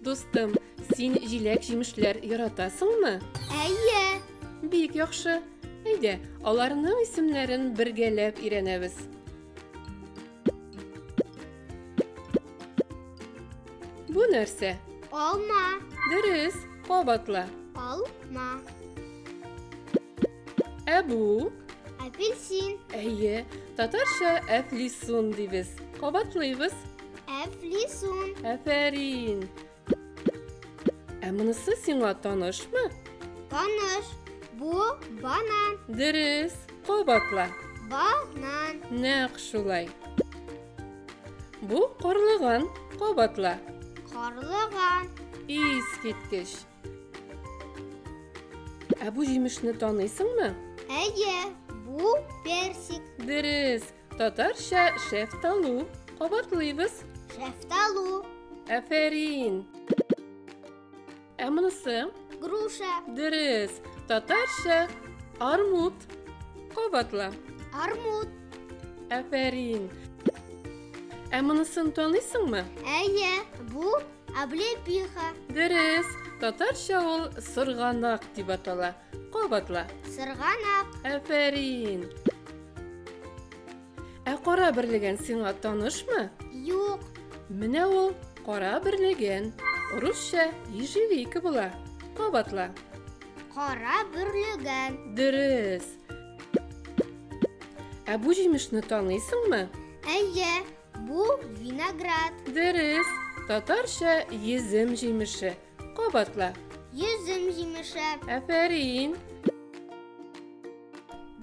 Дустым, син җиләк җимешләр яратасыңмы? Әйе. Бик яхшы. Әйдә, аларның исемнәрен бергәләп өйрәнәбез. Бу нәрсә? Алма. Дөрес, кабатла. Алма. Ә бу? Апельсин. Әйе, татарча әфлисун дибез. Кабатлыйбыз. Әфлисун. Афәрин. Ә монысы сиңа танышмы? Таныш. Бу банан. Дөрес. Кабатла. Банан. Нәкъ шулай. Бу карлыган. Кабатла. Карлыган. Искиткеч. Ә бу җимешне таныйсыңмы? Әйе, бу персик. Дөрес. Татарча шәфталу. Кабатлыйбыз. Шәфталу. Әфәрин. Ә монысы? Груша. Дөрес. Татарча армут. Кабатла. Армут. Әфәрин. Ә монысын танысыңмы? Әйе, бу облепиха. Дөрес. Татарча ул сырганак дип атала. Кабатла. Сырганак. Әфәрин. Ә кара берлеген сиңа танышмы? Юк. Менә ул кара берлеген. Русча ежевика була. Кабатла. Кара берлеген. Дөрес. Ә бу җимешне таныйсыңмы? Әйе, бу виноград. Дөрес. Татарча езем җимеше. Кабатла. Йөзем җимеше. Афәрин.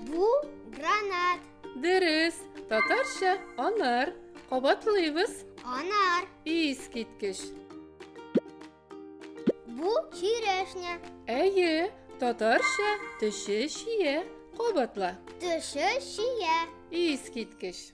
Бу гранат. Дөрес. Татарча анар. Кабатлыйбыз. Анар. Ис киткеч. Бу черешня. Әйе, татарча төше чия. Кабатла. Төше чия. Ис киткеч.